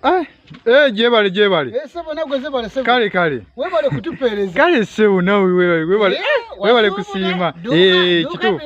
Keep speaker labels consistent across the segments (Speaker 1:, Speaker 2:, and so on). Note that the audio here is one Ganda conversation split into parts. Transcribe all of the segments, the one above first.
Speaker 1: Ah, eh, jebale jebale. Eh, sebo na gwe jebale
Speaker 2: sebo. Kale kale. Webale
Speaker 1: kutupereza.
Speaker 2: Kale sebo na webale
Speaker 1: webale. Eh, eh webale kusima. Eh, kitu.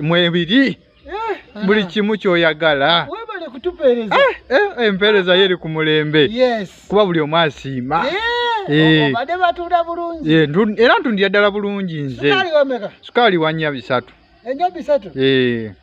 Speaker 2: Mwe bidi.
Speaker 1: Eh. Buli kimu kyoyagala. Webale kutupereza.
Speaker 2: Eh, eh, empereza
Speaker 1: yeri ku mulembe. Yes. Kuba buli
Speaker 2: omwasima.
Speaker 1: Eh. Eh. Obade
Speaker 2: batunda bulungi. Eh, ndun era ntundira
Speaker 1: dala bulungi nze. Sukali wameka. Sukali
Speaker 2: wanya bisatu.
Speaker 1: Enya bisatu.
Speaker 2: Eh.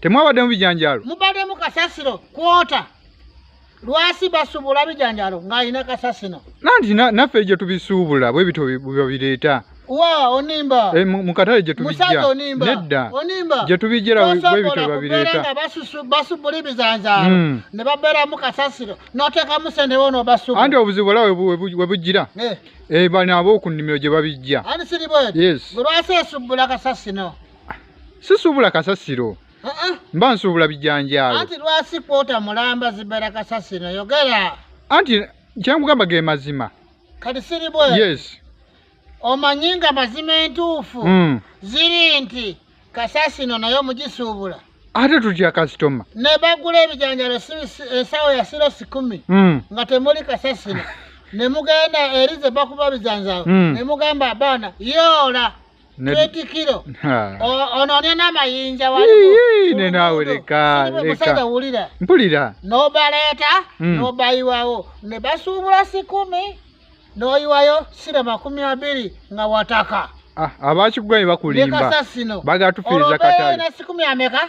Speaker 2: temwabaddemu
Speaker 1: bijanjaalo mubaddemu kasasiro
Speaker 2: kwota lwasi basuubula bijanjaalo ng'alina kasasino nanti naffe
Speaker 1: gye tubisuubula bwe bityo bireeta wa onimba
Speaker 2: e, mukatale gye
Speaker 1: tubijja onimba nedda
Speaker 2: onimba gye
Speaker 1: tubijjera webitwe babireeta basubula
Speaker 2: ebizanzaalo hmm. ne babeeramu kasasiro n'oteekamu sente bona obasubula anti obuzibu ola
Speaker 1: we bujjira eh. eh, bano ab'oku nnimiro gye babijja ani siri bweti yes
Speaker 2: bwe lwasa
Speaker 1: esubbula
Speaker 2: kasasino sisuubula
Speaker 1: kasasiro mba nsuubula bijanjaalo anti lwasi kwota
Speaker 2: mulamba zibera kasasiro yogera anti
Speaker 1: kyenkugamba ge mazima kati siri bwe
Speaker 2: yes
Speaker 1: omanyi
Speaker 2: nga mazima entuufu hmm. ziri nti kasasino naye omugisuubula ate tutya
Speaker 1: kasitoma ne bagula
Speaker 2: ebijanjalo esawo ya siro sikumi hmm. nga temuli kasasino ne mugenda erize bakuba bijanjalo hmm. ne mugamba abaana yoola Netikiro. Ono ne na mayinja wali. Yii ne nawe leka
Speaker 1: leka. Musada ulira.
Speaker 2: Mpulira. No
Speaker 1: baleta
Speaker 2: mm. no bayiwawo ne basubula sikumi no yiwayo sira makumi abiri nga wataka. Ah abachigwa
Speaker 1: ibakulimba. Leka sasino. Baga tufiriza katali. Ono ne sikumi ameka.